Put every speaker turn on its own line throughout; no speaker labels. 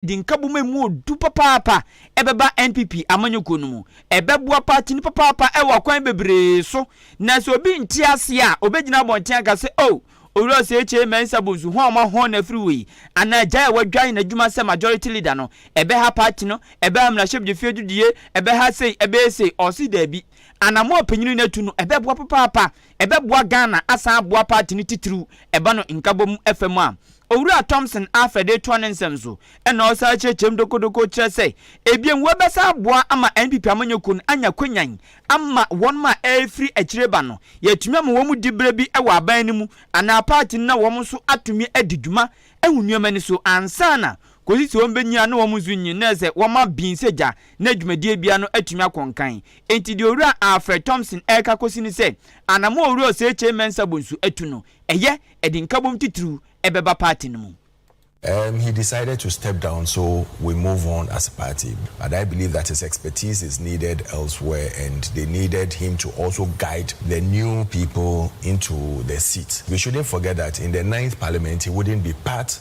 de nkabom a emu yɛ duru papaapa bɛba NPP amanyɔkuo no mu. Ɛbɛboa party no papaapa wɔ akwan bebree so. Na sɛ obi nte aseɛ a, ɔbɛgyina abɔnten aka sɛ, Oh, Owura Osekyere Mensah Bonsu, hwan a wɔahɔn no afiri wei? Anaa Agyae a wadwan n'adwuma sɛ Majority Leader no, ɛbɛha party no? Ɛbɛha mmarahyɛbdefie adudie? Ɛbɛha sei? Ɛbɛyɛ sei? Ɔse daabi. Anammɔn a panyini no atu no, ɛbɛboa papaapa ɛbɛboa Ghana asan aboa party no titiriw ɛba no nkabom ɛfa mu a. Owura Thompson Arthur de toa ne nsɛm so ɛna ɔsan kyerɛkyerɛm dokodoko kyerɛ sɛ ebiem wɔbɛsan aboa ama NPP amanyɔkuo no anya kwanyan ama wɔnom a ɛrefiri akyire ba no yɛatumi ama wɔn di berɛ bi wɔ aban no mu anaa party no na wɔn nso atumi adi dwuma ahu nneɛma ani so ansa na kosi sɛ wɔbɛnyina na wɔn nso nyin na sɛ wɔma bin sɛ gya na dwumadie biara no atumi akɔ nkan. Enti deɛ Owura Alfred Thompson reka kosi ne sɛ anammɔn a Owura Osei-Kyei Mensah Bonsu atu no, ɛyɛ, ɛde nkabom titiriw bɛba party no mu. Um he
decided to step down so we move on as a party but I believe that his expertise is needed elsewhere and they needed him to also guide the new people into the seat. We shouldn't forget that in the ninth parliament he wouldn't be part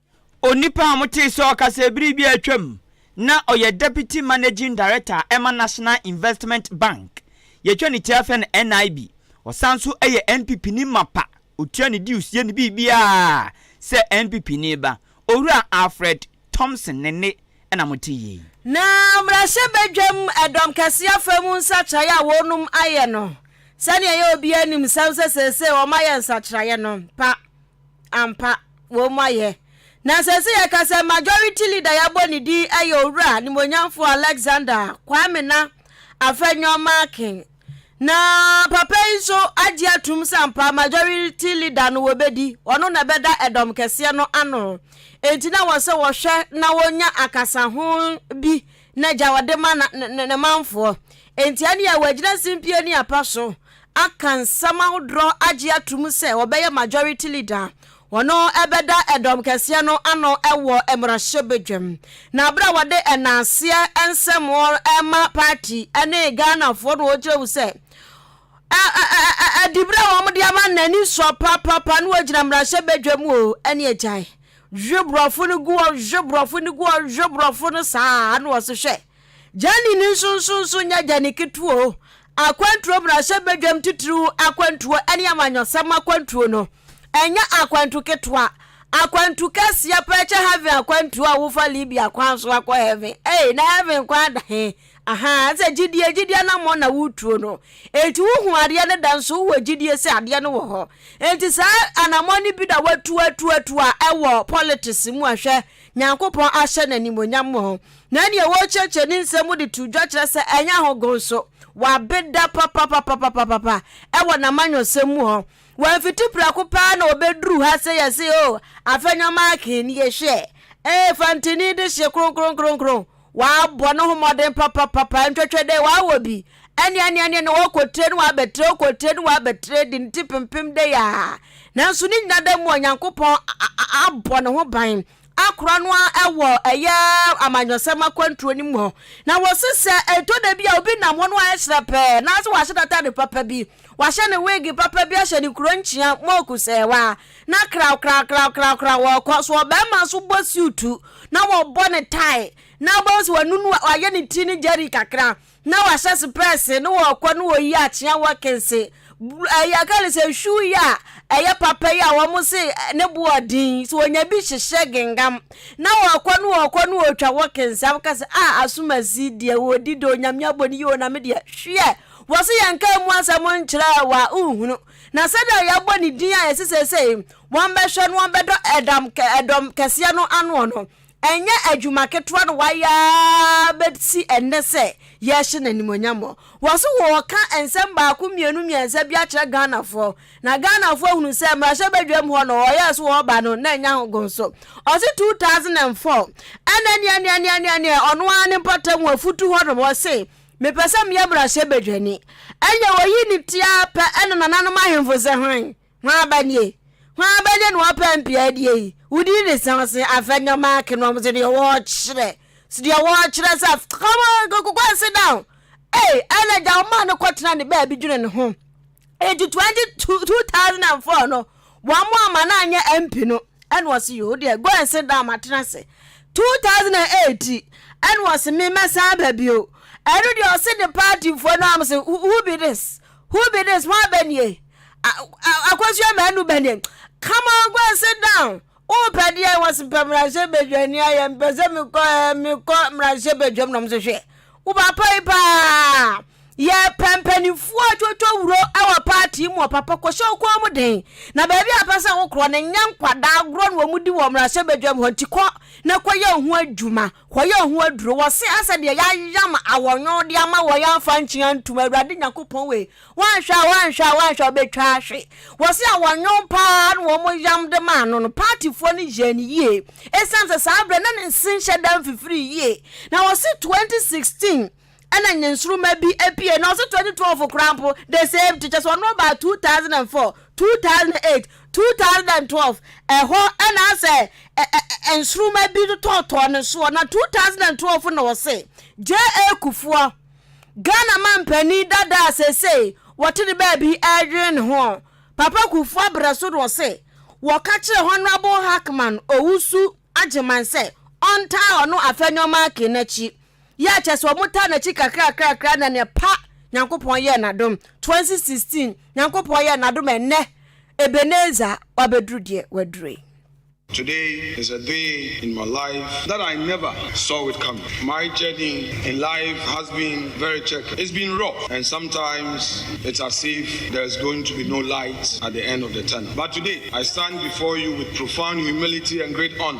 Onipa
a motee sɛ ɔkasa bere bi a atwam na ɔyɛ Deputy Managing Director a ɛma National Investment Bank, yɛtwa ne ti ara frɛ no NIB. Ɔsan nso yɛ NPPni mapa, otua ne dues, yɛ ne biribiara sɛ NPPni ba. Owura Alfred Thompson ne nne na mote yi. Na
mmarahyɛbadwam dɔm kɛse afa mu nsakyeraeɛ a wɔnom ayɛ no, sɛdeɛ ɛyɛ a obiara nim nsɛm sɛ seesei wɔayɛ nsakyeraeɛ no pa. Ampa, wɔn ayɛ. Na sɛ sɛ yɛka sɛ majority leader yɛabɔ ne din yɛ Owura Animuonyamfoɔ Alexander Kwame Na Afenyo Markin. Na papa yi nso agye atom sɛ ampa majority leader no wɔbɛdi, ɔno na ɛbɛda ɛdɔm kɛseɛ no ano. Enti na wɔ sɛ wɔhwɛ na wɔnya akasaho bi na gya ɔde ma na, ne, ne, ne manfoɔ. Enti ɛne a wɔagyina simpie ne apa so aka nsɛm ahodoɔ agye atom sɛ ɔbɛyɛ majority leader a ɔno ɛbɛda ɛdɔm kɛseɛ no ano ɛwɔ mmarahyɛbadwam. Na berɛ a wɔde ɛnaaseɛ nsɛm ɛma party ɛne Ghanafoɔ no wɔgyina mu sɛ ɛ, ɛ, ɛ, ɛ, ɛdiberɛ a wɔde ama no n'ani sɔ papaapa na wɔgyina mmarahyɛbadwam o ɛne agyae Hwe brɔfo no gu hɔ, hwe brɔfo no gu hɔ, hwe brɔfo no saa a, na ɔse hwɛ, Gyani no nsonsonoso nyɛ gyani ketewa o, akwantuo mmarahyɛ badwam titiriw akwantuo ne amanyɔsɛm akwantuo no, ɛnyɛ akwantu ketewa, akwantu kɛseɛ paa kyɛ heaven akwantuo a wofa Libya kwan so akɔ heaven, ei na heaven kwan da he? Ahaa, sɛ gyidie, gyidie anammɔn na woretuo no, enti wohu adeɛ no da nso wowɔ gyidie sɛ adeɛ no wɔ hɔ. Enti saa anammɔn no bi na woatu atu atu a ɛwɔ politics mu a hwɛ, Nyankopɔn ahyɛ no animuonyam wɔ ho. Na nea wɔrekyerɛkyerɛ ne nsɛm mu de to dwa kyerɛ sɛ ɛnyɛ ahogo nso, wabeda papapapapapapa ɛwɔ n'amanyɔsɛm mu hɔ. Wamfiti prɛko pɛ ara na ɔbɛduru ha sɛ yɛse o, afɛnyɔmaake nie hwɛ, ee fantini de hye kronkronkronkron, Ɔabɔ noho mbɔdzen papapapa, nnhwɛhwɛ dɛ ɔawɔ bi, aneaneane na ɔakɔ tire na ɔabɛtire, ɔkɔ tire na ɔabɛtire de ne tsir pempem dɛ yaa. Naaso ne nyinara mu a Nyankopɔn abɔ no ho ban akora no ara wɔ yɛ amanyɔsɛm akwantuo no mu hɔ. Na wɔse sɛ ɛtɔ da bi a obi nam hɔ na ɔayɛ hyerɛpɛɛ anaasɛ ɔahyɛ n'atade papa bi, ɔahyɛ ne weege papa bi ahyɛ ne kuronkyea, moku sɛɛwa, na krawkrawkrawkrawkraw wɔkɔ. So ɔbarima nso bɔ siutu na wɔbɔ ne tae na wobɛhu sɛ wanunu a- wayɛ ne ti ne gyɛri kakra na wahyɛ sepɛɛse ne wɔkɔ ne wɔyi akyea wɔ kense br- ɛyi aka ne sɛ nhwiw yi a ɛyɛ papa yi a wɔn se eh, ne bo ɔden so wɔnya bi hyehyɛ gengam na wɔkɔ ne wɔkɔ ne wɔtwa wɔ kense a woka sɛ a asomasi deɛ wɔdi de onyame abɔ ne yie o na me deɛ hwiɛ wɔ se yɛnka mu asɛm nkyerɛ wa wohunu Na sɛdeɛ yɛabɔ ne din a yɛse seesei wɔbɛhwɛ no wɔbɛdɔ ɛdam ɛdɔm kɛseɛ no anoɔ no, ɛnyɛ adwuma ketewa na wayɛ ara bɛsi ɛnnɛ sɛ yɛrehyɛ no animuonyamɔ. Wɔse wɔreka nsɛm baako mmienu mmiɛnsa bi akyerɛ Ghanafoɔ, na Ghanafoɔ ahunu sɛ mmarahyɛbadwam hɔ no wɔyɛɛ so wɔreba no na ɛnya ho gon so. Ɔse 2004 ɛna neɛneɛneɛneɛneɛ ɔno ara ne mpɔtam wɔ Futu hɔnom ɔse Mepɛ sɛ meyɛ mmarahyɛbadwani. Ɛnneɛ wɔyii no ti ara pɛ na nananom ahemfo sɛ, Hwan? Hwan ba nie? Hwan ba nie na wɔpɛ mpeadie yi? Wo din ne sɛn? Ɔse, Afɛ Nneɛma Ake no. Wɔse, Deɛ wɔkyerɛ. Se deɛ wɔkyerɛ sɛ, Come on, go, go, go and sit down. Ei, ɛna agya wɔmaa no kɔtenaa ne baabi dwene ne ho. Eti twenty two two thousand and four no wɔn a ma no anyɛ MP no ɛna ɔsi yoo deɛ go and sit down ma tena ase two thousand and eight ɛna ɔsi mi mɛsan ba bio ɛno deɛ ɔsi de party foɔ no am sɛ who be this who be this wɔn abɛnie akosua mɛnu bɛnie come on go and sit down Wopɛ deɛ ɛwɔ se pɛ mmarahyɛ badwani ayɛ mpɛ sɛ mekɔ eh, mekɔ mmarahyɛ badwam nom so hwɛ wo papa yi paa yɛ pɛ mpanimfoɔ atwotwo wuro wɔ paati mu papa kɔhyɛ wo kɔn mu den na baabi a pɛ sɛ wokorɔ no nyɛ nkwadaa agorɔ na wɔn di wɔ mmarahyɛ badwam hɔ nti kɔ na kɔyɛ wo ho adwuma Wɔyɛ ho aduro, wɔse asɛ deɛ yɛayam awɔnwɔn de ama wɔ yɛamfa nkyen antom Awurade Nyankopɔn wei, wɔanhwɛ a wɔanhwɛ a wɔanhwɛ a wɔbɛtwa ahwe. Wɔse awɔnwɔn paa na wɔyam de maa no no, paatifoɔ no yɛɛ no yie ɛsiane sɛ saa berɛ na ne nse nhyɛ da mfifiri yie. Na wɔse 2016 na nyensoromma bi pue, na ɔse twenty twelve koraa mpo the same thing, kyerɛ sɛ ɔno ɔbaa two thousand and four, two thousand and eight, two thousand and twelve, ɛhɔ na asɛ ɛ nsoromma bi tɔɔtɔɔ ne soɔ, na two thousand and twelve na ɔse JA Kufuor, Ghana manpanin dada a seesei wɔte ne baabi ɛredwene ne ho, Papa Kufuor abrɛ so na ɔse wɔka kyerɛ Honourable Hackman Owusu Agyeman sɛ ɔntaa ɔno Afenyo Makin n'akyi, Yɛ a kyerɛ sɛ wɔn taa n'akyi kakrakrakra na nea pa Nyankopɔn yɛɛ n'adom 2016 Nyankopɔn yɛɛ n'adom ɛnnɛ Ebenezer wabɛduru deɛ waduru yi. Today
is a day in my life that I never saw it coming My journey in life has been very checkered It's been rough and sometimes it's as if there's going to be no light at the end of the tunnel But today I stand before you with profound humility and great honor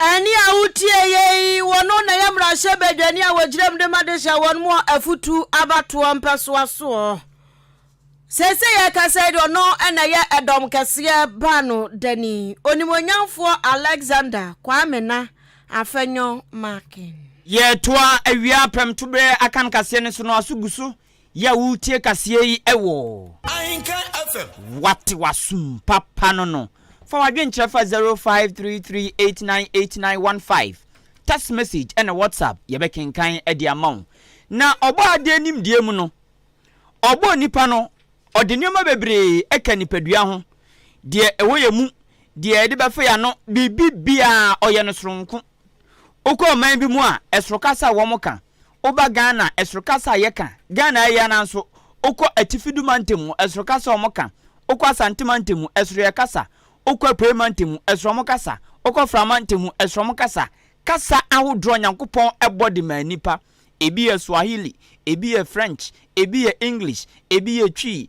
Ɛnne
a wotiei yi, wɔno na ɛyɛ mmarahyɛbadwani a wɔgyina mu de ma de hyɛ wɔn mu afotu abatoɔ mpɛsoa soɔ. Seesei yɛrekasa yi de ɔno na ɛyɛ ɛdɔm kɛseɛ baano dani, onimuonyamfoɔ Alexander Kwame Na Afenyo
Markin. Yɛretoa awia apɛm toberɛ akan kaseɛ
no
so no aso gu so Yɛ a woretie kaseɛ yi wɔ. Ahenka
FM. Wate w'asom
papa no no. Fa w'adwenkyerɛ fa zero five three three eight nine eight nine one five, text message ɛna WhatsApp, yɛbɛkenkan de ama wo. Na Ɔbɔɔ adeɛ nimdeɛ mu no, Ɔbɔɔ nnipa no, Ɔde nneɛma bebree ka nipadua ho, deɛ ɛwɔ yɛn mu, deɛ yɛde bɛfa yɛn ano, biribi biara, Ɔyɛ no soronko. Wokɔ ɔman bi mu a, ɛsoro kasa a wɔka, Woba Ghana ɛsoro kasa a yɛka, Ghana ayi anaa nso wokɔ Atifi du mantam mu ɛsoro kasa a wɔka, wokɔ Asante mantam mu ɛsoro yɛ kasa, wokɔ Apuei mantam mu ɛsoro wɔn kasa, wokɔ Fra mantam mu ɛsoro wɔn kasa. Kasa ahodoɔ a Nyankopɔn bɔ de maa nnipa, ebi yɛ Swahili, ebi yɛ French, ebi yɛ English, ebi yɛ Twi,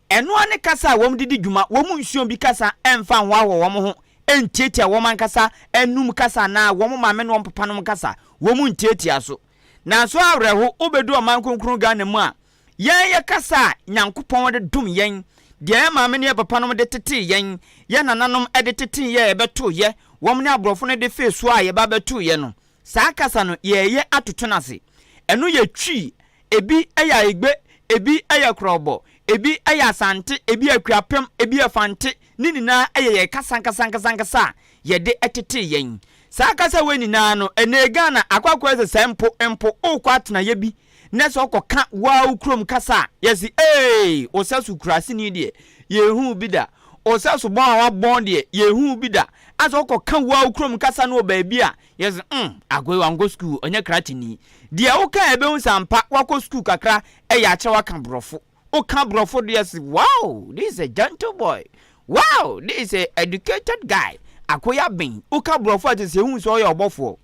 Ɛno ara ne kasa a wɔde di dwuma, wɔn mu nson bi kasa mfa nhoahoa wɔn ho, ntiatia wɔn ankasa anom kasa anaa wɔn maame ne wɔn papanom kasa, wɔn ntiatia so. Nanso awerɛho, wobedu ɔman kronkron Ghana mu a, yɛn yɛ kasa a Nyankopɔn de dom yɛn, deɛ yɛn maame ne yɛn papanom de tetee yɛn, yɛn nananom de tetee yɛn a yɛbɛtooeɛ, wɔn ne aborɔfo no de fee so a yɛba bɛtooeɛ no. Saa kasa no yɛɛyɛ atoto no ase. Ɛno yɛ Twi, ebi yɛ Aigbe, ebi yɛ Krɔbɔ, ebi yɛ Asante, ebi yɛ Akuapem, ebi yɛ Fante, ne nyinaa yɛ yɛn kasa ankasankasankasa a yɛde tetee yɛn. Saa kasa wei nyinaa no, ɛnnɛ Ghana akɔ akɔyɛ sɛ sɛ mpo, mpo, worekɔ atenaeɛ bi na sɛ ɔkɔ ka waw kurom kasa a yɛse eeii osasu kuraseni deɛ yɛnhuu bi da osasu bɔn a wabɔn deɛ yɛnhuu bi da asɛ ɔkɔ ka waw kurom kasa no wɔ baabi a yɛse mm akoe wankɔ sukuu ɔnyɛ krateni deɛ wo ka ɛbɛhu sɛ ampa wakɔ sukuu kakra ɛyɛ akyerɛ waka borɔfo wo ka borɔfo deɛ se waw this is a gentle boy waw this is a educated guy akoe aben wo ka borɔfo a te sɛ hu sɛ ɔyɛ ɔbɔfoɔ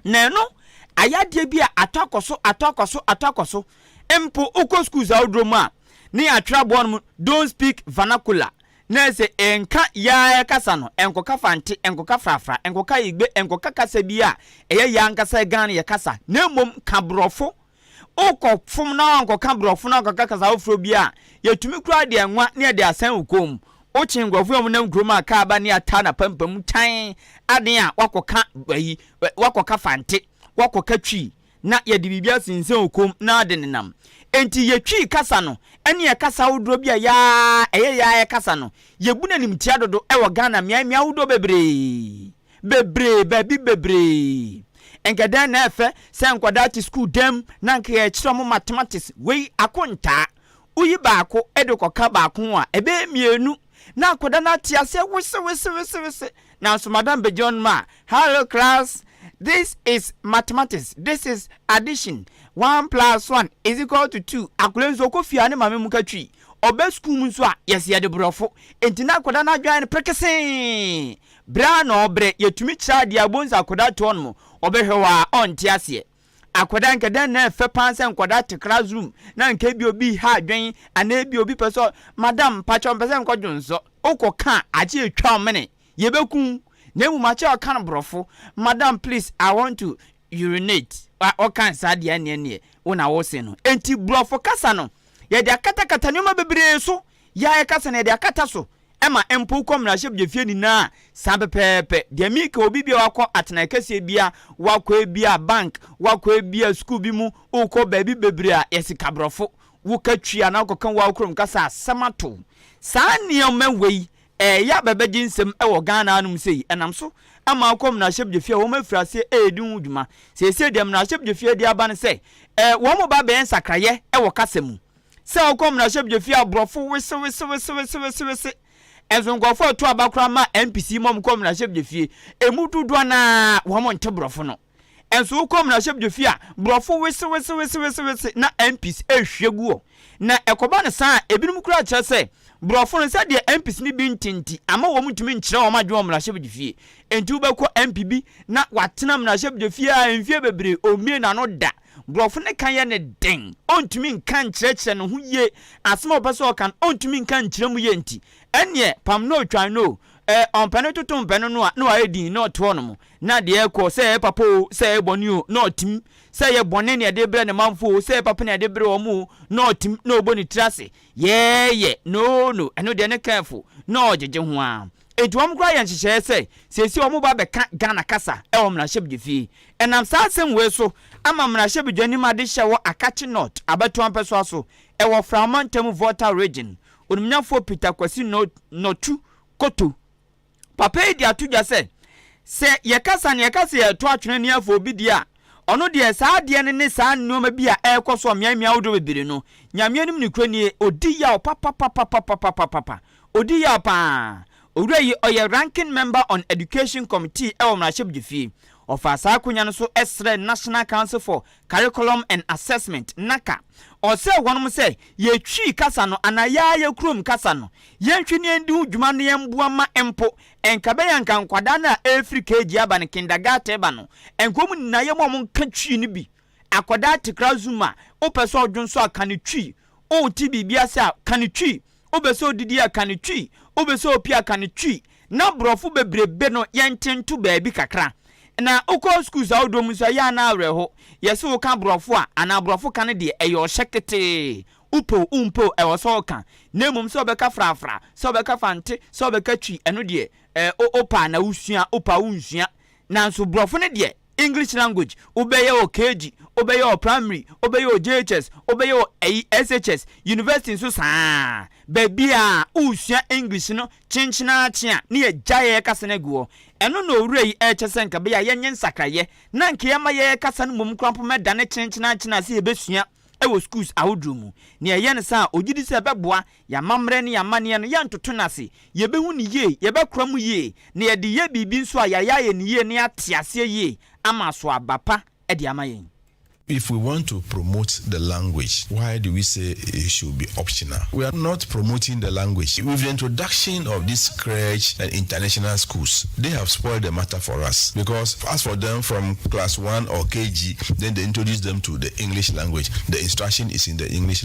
na ɛno ayɛ adeɛ bi a atɔ akɔ so, atɔ akɔ so, atɔ akɔ so. Mpo wokɔ schools ahodoɔ mu a, ne yɛatwerɛ aboa no mu don't speak vernacular, na ɛsɛ ɛnka Yaa kasa no, ɛnkɔka Fante, ɛnkɔka Frafra, ɛnkɔka Igbe, ɛnkɔka kasa bi a ɛyɛ Yaa ankasa Ghana yɛ kasa, na mmom ka Borɔfo Wokɔ fom na woankɔka brɔfo na woankɔka kasa foforɔ bi a, yɛtumi koraa de anwa ne yɛde asan wo kɔn mu. Wokye nkorɔfoɔ a wɔnam kurom a kaa ba ne ataa na pampam mu tan aden a, woakɔka ayi, woakɔka fante, woakɔka twi na yɛde biribi asensɛn wo kɔn mu na wode nenam. Enti yɛ twi kasa no ne yɛ kasa ahodoɔ bi a yɛa ɛyɛ yɛa yɛkasa no, yɛbu no animtia dodo wɔ Ghana mmeae mmeae ahodoɔ bebree. bebree, baabi bebree. Nka dɛn na ɛfɛ sɛ nkwadaa te sukuu dan mu na nka yɛkyerɛ wɔn mathematics, wei akontaa. Woyi baako de kɔka baako ho a, ɛbɛyɛ mmienu, na akwadaa no ate aseɛ wesewesewesewese. Nanso madam bɛgyina hɔnom a, Hello class, this is mathematics, this is addition, one plus one is equal to two. Akwadaa nso ɔkɔ fie a ne maame mu ka twi. Ɔba sukuu mu nso a, yɛse yɛde borɔfo. Enti na akwadaa no adwene ayɛ no perekesee. Berɛ a na ɔbrɛ, yɛtumi kyerɛ adeɛ a, wobɛhu sɛ akwadaa toɔ nom, ɔbɛhwɛ hɔ ara, ɔnte aseɛ. Akwadaa, nka dɛn na ɛfɛ paa sɛ nkwadaa te class room na nka ebia obi reha adwen anaa ebia obi pɛ sɛ, Madam, mpakyɛ ɔmpɛ sɛ nkɔ dwonsɔ. Wokɔka a, agye yɛtwa wo mene, yɛbɛku wo. Na mmom akyɛ a ɔka no borɔfo, Madam, please, I want to urinate. Ɔka no saa deɛ a, ɛnneɛ neɛ wo na wose no. Enti borɔfo kasa no, yɛde akatakata nneɛma bebree so. yi a ɛka sɛ na yɛde akata so ma mpow kɔ mmarahyɛbdwafie nyinaa saa pɛpɛɛpɛ. Deɛ mereka wɔ biribi a wakɔ atenae kɛseɛ bi a wakɔ ebi a bank, wakɔ ebi a sukuu bi mu, wokɔ baabi bebree a yɛ sika borɔfo, woka twi anaa wokɔka wo ara wo kurom kasa a asɛm ato wo. Saa nneɛma wei ɛreyɛ aba abɛgye nsam wɔ Ghana hanom sei, ɛnam so ma wokɔ mmarahyɛbdwafie a wɔafiri aseɛ redi ho dwuma. Seesei deɛ mmarahyɛbdwafie de aba ne sɛ wɔreba abɛyɛ nsakraeɛ wɔ kasa mu. Sɛ wokɔ mmarahyɛbdwafie a brɔfo wesewesewesewesewese nso nkurɔfo a ɛto aba koraa ma NPC ma wɔn kɔ mmarahyɛbdwafie. Emu dodoɔ no ara wɔn nte brɔfo no. Nso wokɔ mmarahyɛbdwafie a brɔfo wesewesewesewesewese na NPC ɛrehwie gu hɔ. Na ɛkɔba no saa a ebinom koraa kyerɛ sɛ brɔfo no sɛdeɛ NPC no bi nte nti ama wɔn ntumi nkyerɛ wɔn adwene wɔ mmarahyɛbdwafie. Nti wobɛkɔ NPB na watena mmarahyɛbdwafie a mfie bebree ɔmmie n'ano da. Borɔfo no ka yɛ no den, ontumi nka nkyerɛkyerɛ ne ho yie, asɛm a ɔpɛ sɛ ɔka no, ontumi nka nkyerɛ mu yie nti, ɛnneɛ pam no twan no o, ɛɛ, ɔmpɛ no toto mpɛ no no a, na wayɛ dinn na ɔte hɔnom, na deɛ ɛrekɔ, sɛ ɛyɛ papa o, sɛ ɛyɛ bɔne o, na ɔtem, sɛ ɛyɛ bɔne na ɛde rebrɛ ne manfoɔ o, sɛ ɛyɛ papa na ɛde rebrɛ wɔn o, na ɔtem, na ɔbɔ ne tiri ase, yɛɛyɛ, no, no, ɛno deɛ ne camp fo, na ɔgyegye ho ara. Enti wɔn koraa yɛ nhyehyɛeɛ sɛ seesei wɔn ba bɛka Ghana kasa wɔ mmarahyɛbdwafie. Ɛnam saa asɛm wei so ama mmarahyɛbdwani ma adehyɛ wɔ Akatse North abatoɔ mpɛsoa so wɔ Fra mantamu Volta Region, Onimnyafoɔ Peter Kwasi Nortu Koto. Papa yi de ato dwa sɛ, sɛ yɛkasa na yɛka sɛ yɛreto atwene ne yɛfa obi deɛ a, ɔno deɛ saa adeɛ no ne saa nnoɔma bi a ɛrekɔ so wɔ mmeae mmeae ahodoɔ bebree no, Nyame anim nokorɛ nie, ɔdi yaw papapapapapapapa. Odi yaw paa. Owura yi ɔyɛ Ranking Member on Education Committee ɛwɔ Mmarahyɛbdwfie. Ɔfaa saa akonya no so srɛɛ National Council for Curriculum and Assessment, NACA. Ɔsrɛɛ wɔnom sɛ, yɛ Twi kasa no anaa yɛ ara yɛ kurom kasa no, yɛnhwɛ na yɛndi ho dwuma na yɛmboa mma mpo ɛnkabɛn anka nkwadaa no a ɛrefiri KG aba no, Kindergarten ba no, ɛnka wɔn nyinaa yɛma wɔn nka Twi no bi. Akɔdaa tekra zuma a, wopɛ sɛ ɔdwonsɔ a, ka no twi. Wote biribi ase a, ka no twi. Wopɛ sɛ odidi a, ka no twi. Wopɛ sɛ opie a, ka no twi. Na borɔfo bebrebe no, yɛnte nto baabi kakra. Na wokɔ sukuus ahodoɔ mu nso a, ɛyɛ a na awerɛho. Yɛse woka borɔfo a, anaa borɔfo ka no deɛ, ɛyɛ ɔhyɛ ketee. Wopɛ o, wompɛ o, ɛwɔ sɛ woka. Na mmom sɛ wobɛka frafra, sɛ wobɛka fante, sɛ wobɛka twi, ɛno deɛ, eh, wopɛ a na wosua, wopɛ a wonsua. Nanso brɔfo no deɛ English language wo bɛyɛ wɔ KG, wo bɛyɛ wɔ primary, wo bɛyɛ wɔ JHS, wo bɛyɛ wɔ ɛyi SHS, university nso saa, baabiaa woresua English no kyenkyen ara kye a ne yɛgyae ɛkasa no agu hɔ. Ɛno na owura yi ɛkyɛ sɛ nka ɛbɛyɛ a yɛnyɛ nsakraeɛ na nka yɛma yɛn ɛkasa no mmom koraa mpo mɛdane kyenkyen ara kye no a sɛ yɛbɛsua ɛwɔ schools ahodoɔ mu. Nea ɛyɛ no saa a ɔgyedi sɛ ɛbɛboa Y'amammerɛ ne y'amanneɛ no, yɛntoto no ase. Yɛbɛhu no yie, yɛbɛkora mu yie, na yɛde yɛ biribi nso a, yɛayɛ ayɛ no yie na yɛate aseɛ yie ama aso aba pa de ama yɛn. If we want
to promote the language why do we say it should be optional? We are not promoting the language. With the introduction of this crèche and international schools, they have spoiled the matter for us because as for them from class one or KG then they introduce them to the English language, the instruction is in the English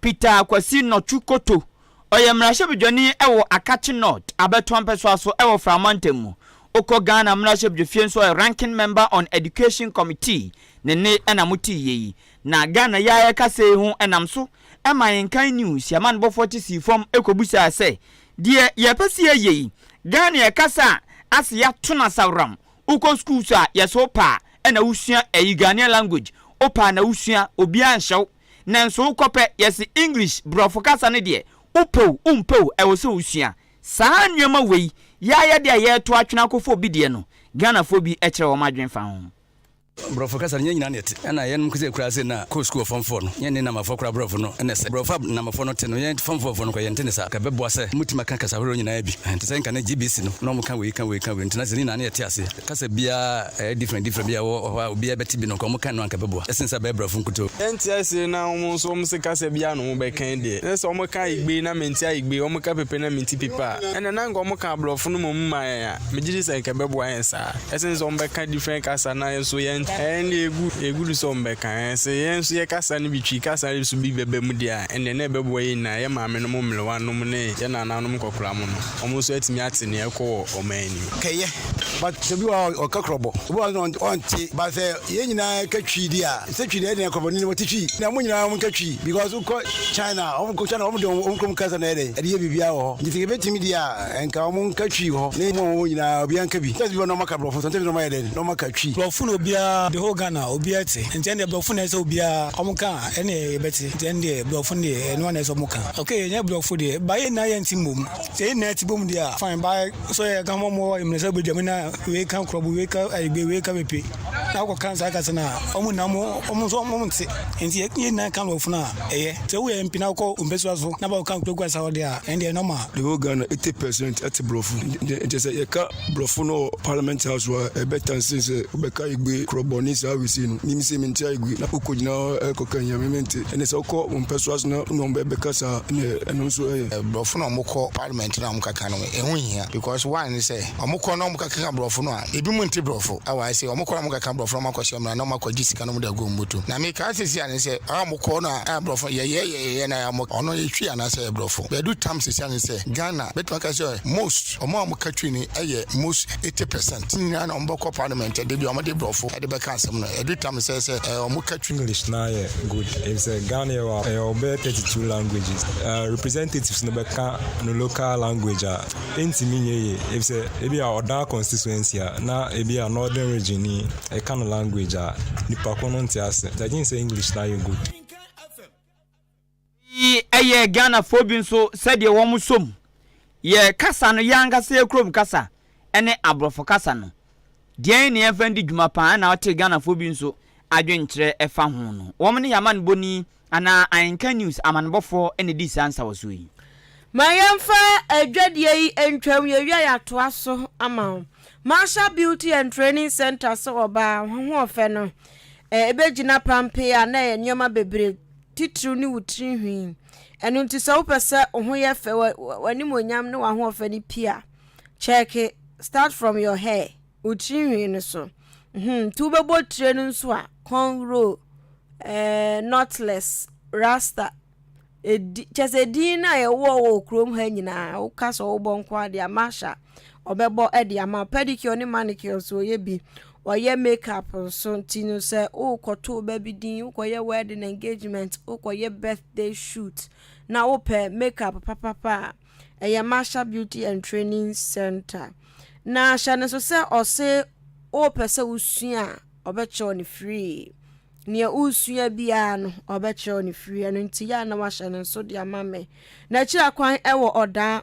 Peter Kwasi Nɔtwe Koto, ɔyɛ mmarahyɛbedwani wɔ Akatse North abatoɔ mpɛsoa so wɔ Fra mantam mu. Wokɔ Ghana mmarahyɛbedwafie nso ɔyɛ Ranking Member on Education Committee ne nne na motee yɛ yi. Na Ghana yi a yɛrekasa yi ho nam so ma Yenkan News yɛamanbɔfoɔ te sii fam kɔbusaa sɛ, Deɛ yɛpɛ sɛ yɛyɛ yi, Ghana yɛkasa a ase yɛato no asaworam, wokɔ schools a yɛse wo paa na wosua ɛyi Ghanaian language, wo paa na wosua, obiara nhyɛ wo. Nanso wokɔ pɛ, yɛse English, brɔfo kasa, no deɛ wopɛ o wompɛ o ɛwɔ sɛ wosua. Saa nnoɔma wei y'ayɛdeɛ a yɛreto atwene akɔfa obi deɛ no, Ghanafoɔ bi kyerɛ wɔn adwene fa ho. Brɔfo kasa
no nyɛ nyinaa na ɛte. Ɛna yɛnom kese koraa sei na kɔɔ sukuu wɔ form four no, yɛnne Namafoɔ koraa brɔfo no na ɛsɛ. Brɔfo a Namafoɔ no te no yɛn form four foɔ no koraa yɛnte ne saa. Ɛbɛboa sɛ wɔbɛtumi aka kasa horoɔ nyinaa bi. Ɛhɛ, te sɛ nka na GBC no na wɔka wei ka wei ka wei nti na sɛ ne nyinaa na yɛte aseɛ. Kasa biara ɛyɛ different different bi a wɔ hɔ a obiara bɛte bi no nka wɔn kan no anka ɛbɛboa ɛsen sɛ abɛyɛ brɔfo nkutoo. Ɛnte ase na
wɔn nso wɔn se kasa biara na wɔn bɛkan deɛ na sɛ wɔn ka igbe na mente aigbe wɔn ka pepe na mente pepe a ɛnna na anka wɔn ka abrɔfo no mmom ma yɛn a megye di sɛ anka ɛbɛboa yɛn saa ɛsen sɛ wɔn bɛka different kasa na yɛn nso yɛn ɛyɛn deɛ ɛgu ɛgu do sɛ wɔn bɛka ɛɛ sɛ yɛn nso yɛ kasa no bi twi kasa no bi so bi bɛba mu deɛ a ɛnneɛ na ɛbɛboa yɛn nyinaa yɛn maame nom mmerewa nom ne yɛn nana nom nkɔkora mo no wɔn nso atumi ate nea ɛrekɔ wɔ ɔman anim. kɛyɛ.
But sɛ obi wɔ hɔ a ɔka krɔbɔ, obi wɔ hɔ a ɔnte. But sɛ yɛn nyinaa ka twi di a, sɛ twi deɛ ɛyɛ dɛn krɔbɔ ni na wɔte twi. Na wɔn nyinaa wɔnka twi because wokɔ China a, wɔn China wɔn deɛ wɔn kurom kasa na ɛyɛ dɛn ɛde yɛ biribiara wɔ hɔ. Nti sɛ yɛbɛtumi deɛ a, nka wɔnka twi wɔ hɔ na wɔn a wɔwɔ hɔ nyinaa obiara nka bi. Sometimes bi wɔ hɔ na wɔaka borɔfo, sometimes na wɔayɛ dɛn na wɔaka twi. Borɔfo na obiara, the
whole Ghana obiara te. Nti ɛndeɛ borɔfo na ɛsɛ sɛ obiara wɔka a ɛne yɛbɛte. Nti ɛndeɛ borɔfo no deɛ ɛno ara na ɛsɛ sɛ wɔka. Okay yɛnyɛ borɔfo deɛ but yɛn nyinaa yɛnte mmom. Sɛ yɛn nyinaa te bom deɛ a fine but So yɛ ka mɔmɔ wa imre sɛ bɛdwam na wei ka korɔbo wei ka ayibe wei ka bepe na akɔ kan saa kasa no a ɔmo nna mo ɔmo nso ɔmo nte nti yɛ nyinaa ka no ɔfunu a ɛyɛ sɛ woyɛ mpena wokɔ mpɛsua so na bɛkɔ kan kurakura saa ɔde a ɛndeɛ nɔma. Yɛwɔ Ghana 80
percent ɛte borɔfo nti sɛ yɛka borɔfo no wɔ parliament house hɔ a ɛbɛtan sen sɛ wobɛka ayibe korɔbɔ ne saa wesei no nim sɛ mente ayibe na wokɔ gyina hɔ ɛkɔ kan yɛ me mente ɛne sɛ wokɔ mpɛsua so na wone ɔmo bɛbɛka saa ɛne ɛno nso ɛyɛ. Borɔfo na ɔmo kɔ
parliament na ɔmo kaka no ɛho nhia because why ne sɛ ɔmo kɔ na ɔmo kɔ keka brɔfo no a ebi mo nte brɔfo a why sɛ ɔmo kɔ na ɔmo keka brɔfo na ɔmo akɔ hyɛ mmra na ɔmo akɔ gye sika na ɔmo de agu ɔmo bɔtɔ na me kaa sisi a ne sɛ a ɔmo kɔ na a brɔfo yɛ yɛ yɛ yɛ yɛ na ɔmo ɔno yɛ twi anaa sɛ yɛ brɔfo bɛdu tam sisi a ne sɛ Ghana bɛtumi aka sɛ most ɔmo a ɔmo ka twi ne ɛyɛ most. eighty percent ne nyinaa na wɔbɛkɔ parliament ɛde bi a wɔde borɔfo ɛde bɛka asɛm no ɛdu tam sɛ sɛ ɛɛ wɔn ka twi. English naa yɛ good
efisɛ Ghana yɛ wɔ a ɛyɛ wɔ bɛyɛ thirty two languages ɛɛ representatives no bɛka no local language a ɛntumi nyɛ yie efisɛ ebi a ɔdaa constituency a na ebi a northern region ni ɛka no language a nipa ko no nte ase nti I think sɛ English naa yɛ good. Eyi
ɛyɛɛ Ghanafoɔ bi nso sɛdeɛ wɔn sɔ mu yɛ kasa no, yɛn ankasa yɛn kurom kasa ɛne aborɔfo kasa no, deɛn na yɛmfa ndi dwuma paa ɛna ɔtee Ghanafoɔ bi nso adwenkyerɛ ɛfa ho no. Wɔn ne yɛn amanebɔni anaa Ahenka News amanebɔfoɔ na ɛdii saa nsawɔsoɔ yi. Ma yɛmfa
adwadie yi ntwam, yɛwia yɛatoa so ama wo. Marshall Beauty and Training Centre sɛ ɔbaa, ho ɔfɛ no ɛbɛgyina pampee a na ɛyɛ nneɛma bebree. titiriw ne wo tiri nhwi. Ɛno nti sɛ wopɛ sɛ wo ho yɛ fɛ, w'animuonyam ne w'ahoɔfɛ no pi a, kyɛɛke Start From Your Hair, wo tiri nhwi no so. Hmm, nti wobɛbɔ tire no nso a, cornrow, eh, knotless, rasta, edi, kyɛ sɛ edin no a yɛwɔ wɔ kurom ha nyinaa, woka sɛ wobɔ nko adeɛ a, masha. wɔbɛbɔ de ama wo. Pedicure ne manicure nso wɔyɛ bi. Wɔyɛ makeup nso nti no sɛ wokɔto ba bi din, wokɔyɛ wedding engagement, wokɔyɛ birthday shoot na wopɛ makeup papapa a, ɛyɛ Masha Beauty and Training Center. Na hyɛ no so sɛ ɔse wopɛ sɛ wosua a, ɔbɛkyerɛw no free. Nea wosua biara no, ɔbɛkyerɛw no free. Ɛno nti yɛ a na wahyɛ no nso de ama me. N'akyiri akwan wɔ Ɔdaa.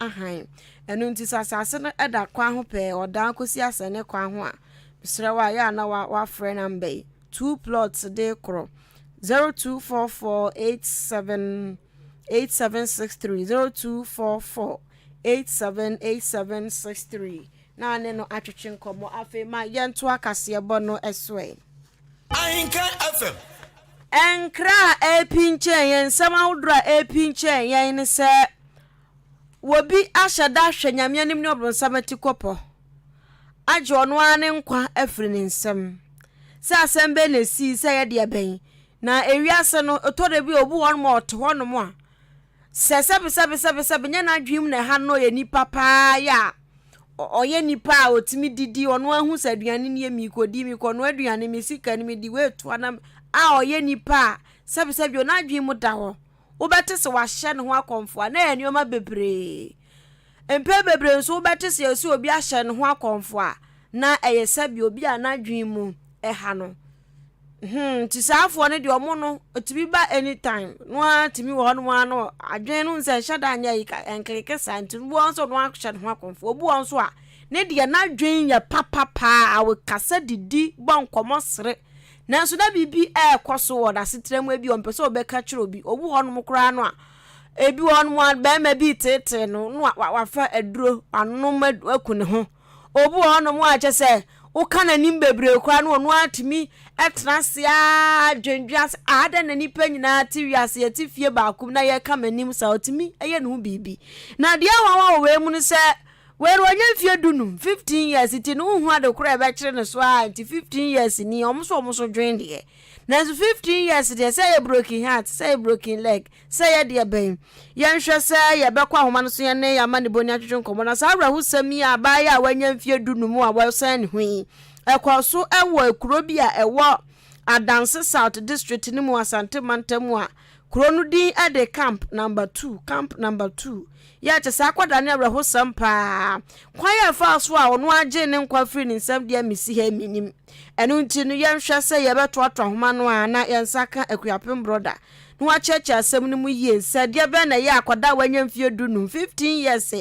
hann. Ɛno nti, sɛ asase no da kwan ho pɛɛ, ɔdan kɔsi asɛnne kwan ho a, mesrɛ wo a, yɛ a na woafrɛ namba yi, two plots de korɔ, 0244878763, 0244878763, na ne no atwetwe nkɔmmɔ. Afei ma yɛntoa kaseɛbɔ no so ɛ. Ahenka
FM. Nkra
a ɛrepinkyɛn yɛn, nsɛm ahodoɔ a ɛrepinkyɛn yɛn ne sɛ, Obi ahyɛ da ahwɛ Nyame anim ne ɔbronsam atikɔpɔ agye ɔno ara ne nkwa afiri ne nsam. Sɛ asɛm bɛn na ɛsii sɛ ɛyɛ deɛ bɛn? Na ewiase no, ɛtɔ da bi a obi wɔ hɔnom a ɔte hɔnom a, sɛ sɛbesɛbesɛbesɛbe nyɛ n'adwene mu na ɛha no na ɔyɛ nipa paa yɛ a, ɔyɛ nipa a ɔtumi didi, ɔno ara hu sɛ aduane nie meekɔdi, meekɔnoa aduane, me sika nie mede wei toa na a ɔyɛ nipa a sɛbesɛbe bio n'adwene mu da hɔ. Wobɛte se wɔahyɛ ne ho akɔmfoa, na ɛyɛ nneɛma bebree. Mpɛn bebree nso wobɛte se yɛse obi ahyɛ ne ho akɔmfoa, na ɛyɛ sɛdeɛ obi a n'adwene mu ɛha no. Hmm, nti saa afoɔ no deɛ ɔmo no, ɛtumi ba anytime. No ara tumi wɔ hɔnom ara no, adwene no nsɛ nhyɛ da nyɛ yika, ɛnkleke saa, nti obi wɔ hɔ nso no ahyɛ ne ho akɔmfoa. Obi wɔ hɔ nso a, ne deɛ n'adwene yɛ papa paa, ɔkasa didi, bɔ nkɔmmɔ sere, Nanso na biribi rekɔ so wɔ n'asetra mu, ebia ɔmpɛ sɛ ɔbɛka kyerɛ obi. Owu hɔnom koraa no a, ebi wɔ hɔnom a barima bi reteetee no na wafa aduro anom aku ne ho. Obi wɔ hɔnom a kyɛ sɛ woka n'anim bebree koraa no ɔno atumi tena ase ara dwendwen ase a adɛn na nnipa nyinaa te wiase yɛte fie baako mu na yɛka m'anim saa ɔtumi yɛ ne ho biribi. Na deɛ nwanwa wɔ wei mu no sɛ Wei no wanya mfie du num, fifteen years, nti no wonhu ade koro a ɛbɛkyere no so aa nti fifteen years ni ɔmo so ɔmo so dwen deɛ nanso fifteen years deɛ sɛ yɛ broken heart sɛ yɛ broken leg sɛ yɛ deɛ bɛn yɛnhwɛ sɛ yɛ bɛkɔ ahoma no so yɛne yɛ amanibɔ ni atwetwe nkɔmɔ na saa awerɛhosɛm yi a abaayewa a wanya mfie du num a wɔsɛn ne ho yi ɛkɔɔ so ɛwɔ ekuro bi a ɛwɔ Adanse South District no mu Asante Mantam a Kuro no din de Camp Number Two, Camp Number Two. Yɛ kyɛ saa akwadaa no awerɛhosɛm paa. Kwan a ɛfaa so a ɔno ara gyee ne nkwa firii ne nsam deɛ mesi ha mennim. Ɛno nti no, yɛnhwɛ sɛ yɛbɛtoatoa nhoma no a na yɛn nsa ka Akuapem Brɔda na wakyerɛkyerɛ asɛm no mu yie sɛ deɛ bɛn na ɛyɛ akwadaa a wanya mfeɛ du nnum, 15 years,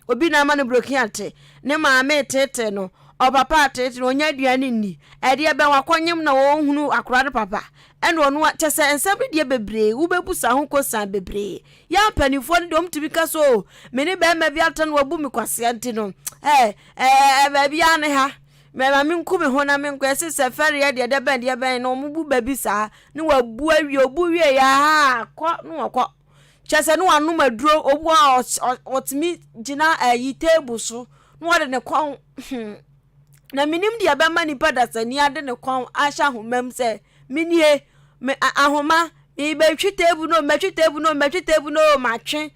obi na ama no broken heart, ne maame reteetee no, ɔpapa reteetee no, ɔnnya aduane nni, ɛdeɛ bɛn wakɔnyem na ɔnhunu akwadaa no papa? Ɛna ɔno a kyɛ sɛ nsɛm no deɛ bebree wobɛbusa ho kosan bebree yɛ a mpanimfoɔ no deɛ wɔtumi ka sɛ o me ne bɛrima bi atena no wabu me kwasea nti no ɛɛ ɛɛ baabi ara ne ha mɛma menku me ho na menkɔ ɛse sɛ fɛreɛ deɛ deɛ bɛn deɛ bɛn na wɔn bu baabi saa ne wabu awie obu wie yɛ aha kɔ ne wɔkɔ kyɛ sɛ ne wanom aduro obu a ɔtumi gyina ɛyi table so ne wɔde ne kɔn hmm. na menim deɛ ɛbɛma nipa dasani ade ne kɔn ahyɛ ahoma mu sɛ menie me ahoma mebɛtwe teebu no mɛtwe teebu no mɛtwe teebu no matwe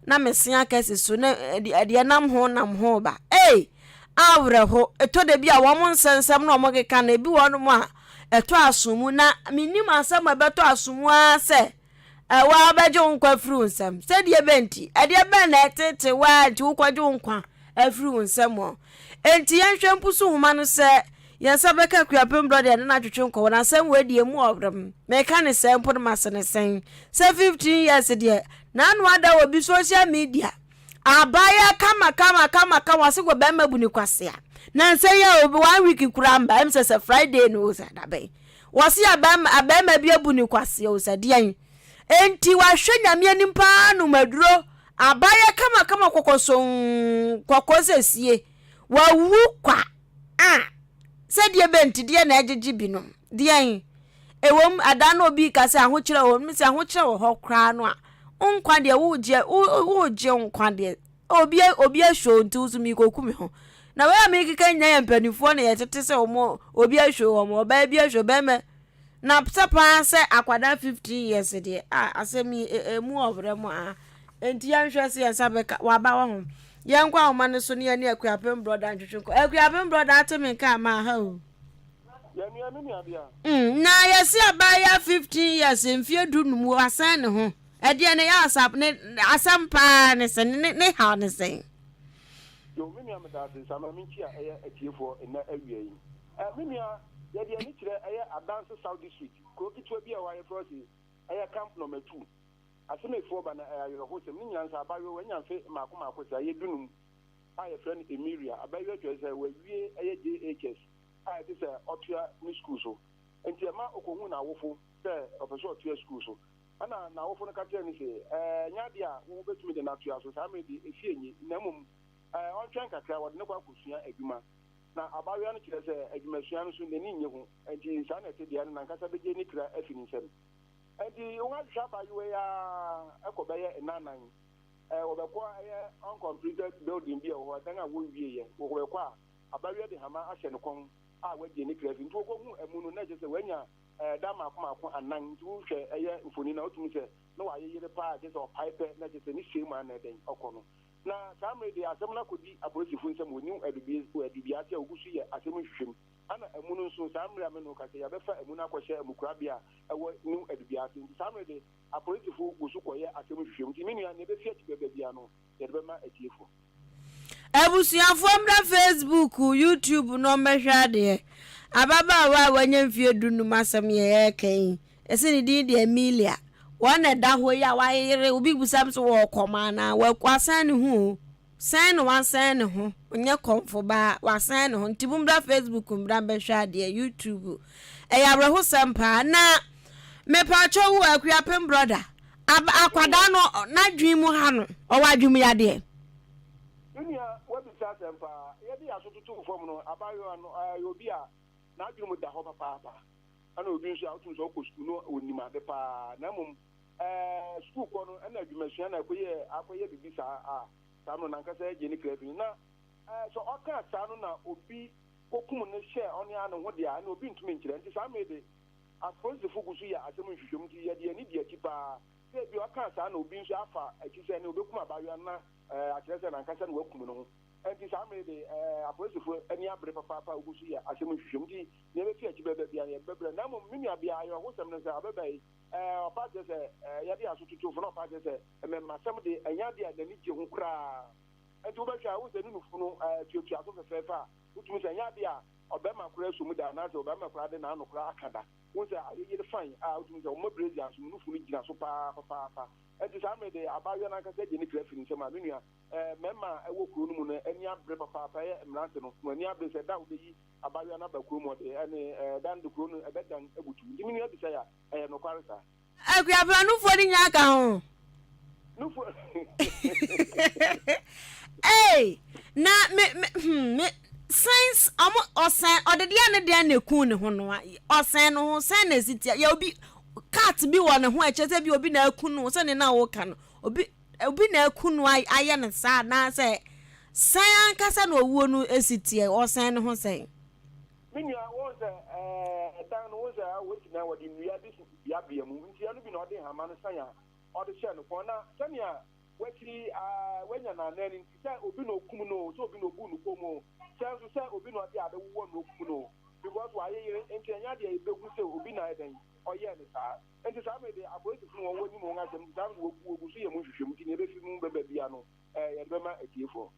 na mese akɛse so na deɛ nam ho nam ho ba ei awerɛho ɛtɔ da bi a wɔn nsɛnsɛm na wɔn keka no ebi wɔn mu a ɛtɔ aso mu na menim asɛm a ɛbɛtɔ aso mu ara sɛ Ɛwɔ a wobɛgye wo nkwa afiri wo nsam. Sɛdeɛ bɛn nti? Ɛdeɛ bɛn na ɛtete wo a nti wokɔgye wo nkwa afiri wo nsam hɔ? Enti yɛnhwɛ Mpusu nwoma no sɛ yɛn nsa bɛka Akuapem Brɔ deɛ ne no atwetwe nkɔ. Wɔn asɛm wei deɛ emu ɔwerem. Meka ne sɛn mpo no mase ne sɛn sɛ fifteen years deɛ n'ano ada wɔ bi social media abaayewa kama kama kama kama ɔse wɔ bɛrima bu ne kwasea. Nansa yi a obi one week koraa mba ɛm sɛ sɛ Friday no o sɛ dabɛn. Wɔse abarima abarima bi abu no kwasea o, sɛ deɛn enti wahwɛ Nyame anim paa nom aduro, abaayɛ kama kama kɔkɔsonn kɔkɔɔ sɛ sie, wawu kwa a, sɛ deɛ bɛ nti deɛ na ɛgyegye binom, deɛn? Ɛwom adaa no obi ka sɛ ahokyerɛ wɔ hɔ, no sɛ ahokyerɛ wɔ hɔ koraa no a, wo nkwa deɛ wogye wogye nkwa deɛ Obi obi ahwɛ o nti wo so mikoku me ho. Na wei a mekeka nyina yɛ mpanimfoɔ na yɛtete sɛ wɔn obi ahwɛ wɔn ɔbaa bi ahwɛ bɛrima na sɛ paa sɛ akwadaa fifteen years deɛ a asɛm yi emu ɔbrɛ mu a nti yɛnhwɛ sɛ yɛn nsa bɛka waba wɔ ho yɛnkɔ ahoma no so ne yɛne akuapem brɔda ntwetwe nkɔ akuapem brɔda ate me nka ama ha o. Mm, na yɛsi abaayewa fifteen years mfie du num wasan ne ho. Ɛdeɛ ne Asaf ne asɛm paa ne sɛ ne ne haw ne sɛn? Yoh
me nua meda ase sa ma me nkyia ɛyɛ atiefoɔ nnɛ awia yi eh me nua yɛde ani kyerɛ ɛyɛ adanse south district kuro ketewa bi a ɛhɔ a yɛfrɛ hɔ se ɛyɛ camp number two asemefoɔ ba na ɛyɛ awerɛho sɛm ne nyina nsa abayewa wanya mfe maako maako sɛ ɛyɛ dunum a yɛfrɛ no Emiria abayewa kyerɛ sɛ wawie ɛyɛ JHS a ɛte sɛ ɔtoa ne sukuu so nti ɛma ɔkɔhu n'awofo sɛ ɔpɛ sɛ ɔtoa sukuu so Ɛnna n'awofo no ka kyerɛɛ no se, Ɛnyɛ adeɛ a wobɛtumi de no atoa so saa mmerɛ deɛ ɛfie nni, na mmom ɔntwɛn kakra, wɔde no kɔ akɔsua adwuma. Na abaayewa no kyerɛ sɛ adwumasua no so n'ani nnye ho, enti saa na ɛte deɛ, ɛno n'ankasa bɛgye ne kra afi ne nsam. Enti wɔahwehwɛ abaayewa yi ara kɔ bɛyɛ nnannan. Wɔbɛkɔ a, ɛyɛ uncompleted building bi a ɛwɔ hɔ, dan a wɔnwieeɛ. Wɔbɛkɔ a, abaayewa de hama ahyɛ ne kɔn a wagye ne kra afi. Nti wɔkɔhuu amu no, na ɛkyerɛ sɛ wanya ɛda mmaako mmaako anan nti wohwɛ ɛyɛ mfoni no a wotumi sɛ na wayeyere paa kyerɛ sɛ ɔpae pɛ na kyerɛ sɛ ne sei mu anɛ dɛn ɔkɔ no na saa mmere deɛ asɛm no akɔdi apolisifo nsam wɔ new adubiase a wogu so yɛ asɛm nhwehwɛm ana amu no nso saa mmere a me no ka sɛ yɛbɛfa amu no akɔhyɛ amukurabea a ɛwɔ new adubiase nti saa mmere de apolisifo gu so kɔyɛ asɛm nhwehwɛm nti me nua nea ɛbɛfi akyi bɛba bia no yɛde bɛma
atiefo. Abusuafoɔ mmra Facebook, YouTube nom mmɛhwɛ adeɛ. Ababaawa a wanya mfeɛ du nnum asɛm yɛ ɛreka yi. Yɛse ne din de Emilia. Wɔn na ɛda hɔ yi a wayere, obi bisa me sɛ wɔɔkɔm anaa? Wasɛn ne ho o. Sɛn na wasɛn ne ho? Ɔnyɛ kɔmfo baa, wasɛn ne ho. Nti mommra Facebook mmra mmɛhwɛ adeɛ, YouTube. Ɛyɛ awerɛhosɛm paa. Na mepaakyɛw o, Akuapem brɔda, Ab, akwadaa no, n'adwene mu ha no, ɔwɔ adwemuyadeɛ. Me nua,
woabisa asɛm paa. Yɛde yɛn aso toto wo fam no, abaayewa no, ɔyɛ obi a n'adwene mu da hɔ papaapa. Ɛna obi nso a wotum sɛ ɔkɔ sukuu na onim ade paa, na mmom ɛɛ, sukuu kɔ no ɛna adwumasua na ɛkɔyɛ akɔyɛ biribi saa a, saa no n'ankasa agye ne kra afi no. Na ɛɛ, sɛ ɔka saa no na obi kɔkum no hyɛ ɔne ara ne ho de a, ɛna obi ntumi nkyerɛ. Nti saa mmere de, Apolisifoɔ gu so yɛ asɛm nhwehwɛmu nti yɛde yɛn ani di akyi paa sɛ ebia ɔkaa saa na obi nso afa akyi sɛ ɛnne ɔbɛkum abaayewa no na ɛɛ akyerɛ sɛ n'ankasa na wakum ne ho. Ɛnti saa mmere de ɛɛ apolisifoɔ ani abere papaapa a wogu so yɛ asɛm nhwehwɛmu nti nea ɛbɛfi akyi bɛba biara no yɛde bɛbrɛ na mmom me nua bea awerɛhosɛm no sɛ abɛba yi ɛɛ ɔpaa kyerɛ sɛ ɛɛ yɛde yɛn aso totofo na ɔpaa kyerɛ sɛ mmɛmmasɛm de ɛnyɛ adeɛ a n'ani gye ho koraa ɛnti wobɛhwɛ a wohu sɛ ne nufu no ɛɛ tuatua so fɛfɛɛfɛ a Wotumi sɛ ɛnyɛ ade a ɔbarima koraa aso mu da anaasɛ ɔbarima koraa de n'ano koraa aka da. Wohu sɛ ayɛ yere fann a wotumi sɛ wɔma brazia nso mu nufu no gyina so paa papaapa. Enti saa mmere de abaayewa no ankasa gye ne kra fi ne nsam a, me nua, ɛɛ, mmarima a ɛwɔ kurow no mu no ani abere papaapa. Ɛyɛ mmerante no, wɔn ani abere sɛ da a wobeyi abaayewa no aba kurom hɔ de, ɛnne, ɛɛ, da no de kurow no ɛbɛdan abutuw. Enti me nua bisa yi a, ɛyɛ nokware saa? Akuapra nufoɔ
no nyinaa ka ho. Nufoɔ. Ei na me me hmm me science ɔmo ɔsɛn ɔde deɛ ne deɛ na ekun ne ho no a ɔsɛn no ho sɛn na esi tia yɛ obi cat bi wɔ ne ho ɛkyɛ sɛ bi obi na ekun no sɛ ne na ɔka no obi obi na ekun no ayɛ ne saa anaasɛ sɛn ankasa na owuo no esi tia ɔsɛn ne ho sɛn. Me nua,
wohu sɛ, ɛɛ, dan no, wohu sɛ, a, wosi na wɔde nnua de si beabea mu, ntia no bi na ɔde nhama no san a ɔde hyɛɛ no kɔn, na sɛnea wakyiri yi, a, wanya n'anan no nti, sɛ obi na okum no oo, sɛ obi na obu no fam oo, sɛ nso sɛ obi na ɔde ade wowɔ no na okum no oo, because wayeyere nti, ɛnyɛ ade a yebehu sɛ obi na ayɛ dɛn, ɔyɛɛ no saa. Enti saa bere de, apolisifo no, wɔn, wonim wɔn asɛm, nti saa nso wogu, wogu so yɛ mu nhwehwɛmu, nti nea ebefi mu bɛba biara no, ɛɛ, yɛde bɛma atiefo no.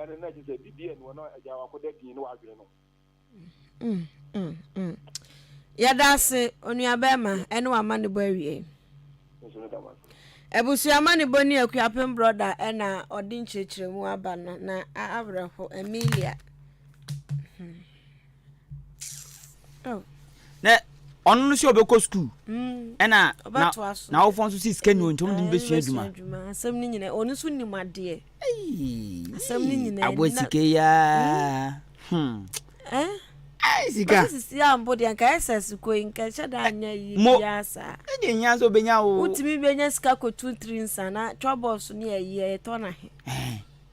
ɛne na ɛkyɛ sɛ bibia ni hɔ na agya wakɔda din ne wadwene no mm, mm, mm. yɛda ase onuabɛrima ɛne wama ne bɔ awie abusua ma ne bɔ ne akuapem brɔda ɛna ɔde nkyerɛkyerɛmu aba no na awerɛho amelia hmm.
Oh. Na ɔno no sɛ ɔbɛkɔ sukuu. Mm. Ɛna na n'awofoɔ nso si sika ni wɔn ntam de no bɛsua adwuma. Asɛm no nyinaa ɔno nso
nim adeɛ. Asɛm no nyinaa. Abɔ sika yi aa.
Hmm. Eh? sika sisi ambo deɛ nka
ɛsɛ siko yi nka ɛhyɛ da anya yi biara saa ɛdeɛ hia sɛ ɔbɛnya
wo wotumi bɛnya sika
kɔtu tiri nsa na twabɔs ne ɛyi ɛyɛtɔ no he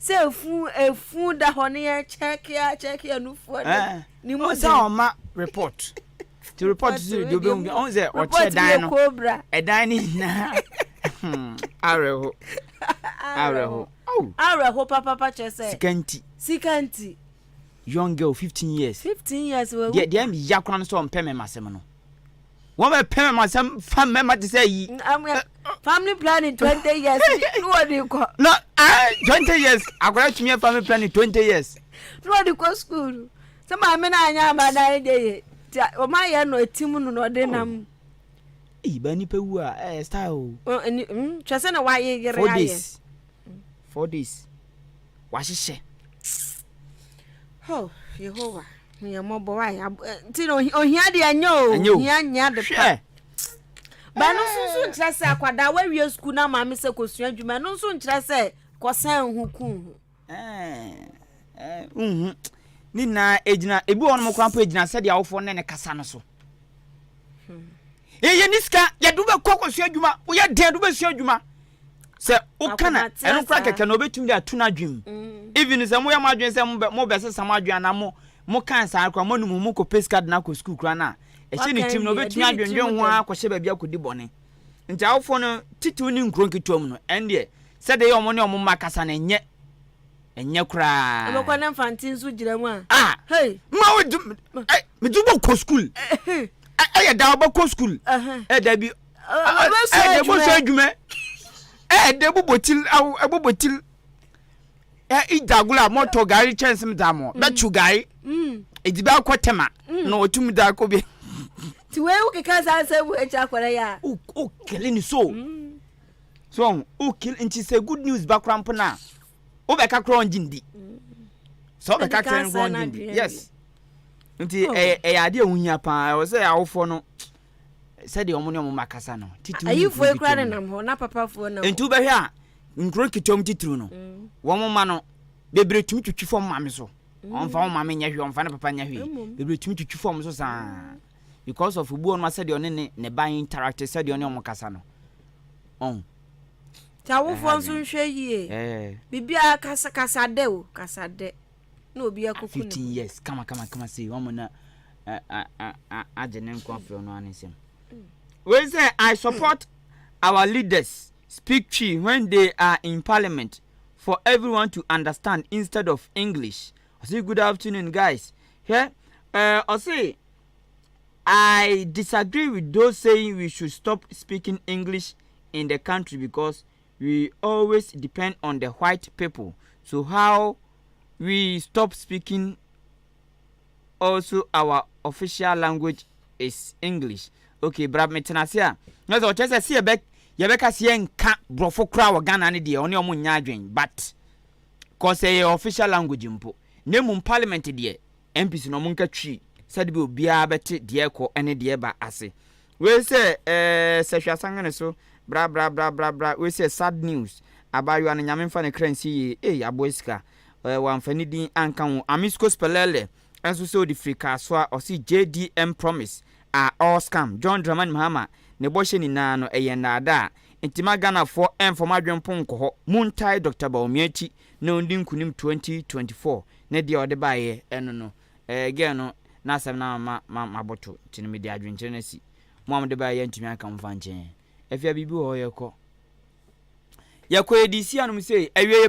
Sɛ fun efun da hɔ ne yɛ kyɛke a kyɛke anufoɔ ne eh, ne mu sɛ
ɔma report ti report so de obi mu ɔn sɛ ɔkyɛ dan no ɛdan ne nyinaa hmm, awerɛho awerɛho
awerɛho papapa kyerɛ sɛ sika nti sika nti young
girl fifteen years fifteen years wɔ deɛ deɛ mi ya
kora no sɛ
ɔmpɛ mɛma asɛm no. Wɔbɛpɛ mɛma asɛm fa mɛma te sɛ ayi. Family
planning twenty years ni wɔ de kɔ. No ah
twenty years akɔla tumi yɛ family planning twenty years. Ni wɔ de kɔ
school sɛ maame na anya ama na ayɛ de yɛ ti wɔn ayɛ no eti mu no na ɔde oh. nam. Ee ba
nipa wu a ɛɛ style o. Twɛ sɛ
na wayɛ yere ayɛ. Four days. four
days wahyehyɛ.
Oh, Yehowa, hu yɛn mmɔbɔ wa yɛ abo eh, nti na ohia deɛ ɛnyɛ o, Ɛnyɛ o. ohia nyɛ ade pa. Hwɛ. Ba no nso nso nkyerɛ sɛ akwadaa wawie sukuu na maame sɛ kosua adwuma ɛno nso nkyerɛ sɛ kɔsɛn ho kun ho. Ɛɛ, ɛɛ,
nhu. Ne nyinaa egyina ebi wɔ hɔ nom koraa mpo egyina sɛdeɛ awofoɔ ne ne kasa no so. Yɛyɛ ne sika yɛde wobɛkɔ akɔsua adwuma woyɛ dɛn de wobɛsua adwuma Sɛ woka na ɛno kora kɛkɛ na obetumi de ato n'adwene mu. Mm. Even sɛ moyɛ mo adwene sɛ mobɛ mobɛsesa mo adwene anaa mo mo kan saa kora mo anum mo kɔ pay sika de na akɔ sukuu kora na ɛhyɛ ne tirim na obetumi adwendwen ho ara kɔhyɛ baabi akɔdi bɔne. Nti awofoɔ no titiriw ne nkuro nketewa mu no ɛndeɛ sɛdeɛ yɛ wɔn ne wɔn mma kasa no ɛnyɛ ɛnyɛ koraa. ɛbɛkɔ ne mfante nso
gyina mu a. ah hey mma
wo di ɛ mede bɔ kɔ sukuu ɛyɛ da ɔbɛkɔ sukuu ɛ dabi. ɛde bɔ so adwuma ɛde bobɔ ti awo ɛbobɔ ti ɛ idagolo a mɔtɔ gari kyɛnsem da mɔ mm. bɛtu gari edi mm. bɛ akɔ tɛma mm. na otum da akɔ bi. ti wei
wokeka saa sɛ bu akyi akɔrɛ yɛ a. o kele ni
so so o kele nti sɛ good news ba kora mpo na o bɛ ka kora ɔn gyi ndi sɛ o bɛ ka kora ɔn gyi ndi yes nti ɛyɛ ɛyɛ adeɛ ohun ya paa ɛwɔ sɛ awofoɔ no. sɛdeɛ wɔn ne wɔn mma kasa no titiriw ne nkuro nketewa mu nenam
hɔ na papafoɔ nam nti wobɛhwɛ a
nkuro nketewa mu titiriw no mm. wɔn mma no bebree tumi twitwi fam maame so mm. wɔmfa wɔn maame nyɛ hwee wɔmfa ne papa nyɛ hwee bebree tumi twitwi fam so saa because of obi wɔn sɛdeɛ ɔne ne ne ba interact sɛdeɛ ɔne wɔn kasa no ɔn nti
awofoɔ nso nhwɛ yie biribiara kasa kasa dɛ o kasa dɛ na obi akɔku ne 15 years kama kama
kama sei wɔn na agye ne nkwa firi ɔno ano nsam wey sɛ i support our leaders speak twi when they are in parliament for everyone to understand instead of english ɔse good afternoon guys hwɛ ɛɛ ɔse i disagree with those saying we should stop speaking english in the country because we always depend on the white people so how we stop speaking also our official language is English okay bra me tena ase a na sɛ ɔkyerɛ sɛ sɛ yɛbɛ yɛbɛka sɛ yɛnka borɔfo koraa wɔ Ghana no deɛ ɔne ɔmo nyɛ adwen but kɔ sɛ yɛ official language mpo na mmom parliament deɛ MPs no ɔmo nka twi sɛdebia obiaa bɛte deɛ ɛkɔ ne deɛ ɛba ase. Wei sɛ eh sɛ hwɛ asanhene so bra bra bra bra bra wei sɛ sad news abaayewa no nyame mfa ne kra nsie yie ei aboa sika eh wamfa ne din anka ho Amis Kospelele nso sɛ odi firi Kasoa ɔse JDM promise are all scam John Dramani Mahama ne bɔhyɛ nyinaa no ɛyɛ nnaadaa nti ma Ghanafoɔ ɛmfa ɔmo adwene mpo nkɔ hɔ montae Doctor Bawumia akyi na ɔndi nkunim twenty twenty four ne deɛ ɔde baeɛ ɛno no ɛɛ girl no n'asɛm no ama ma maboto nti no mede adwenkyerɛ no asi mo a mode baeɛ yɛantumi anka mo mfa nkyɛn afia biribi wɔ hɔ yɛkɔ yɛkɔ yɛde si anom sei awieɛ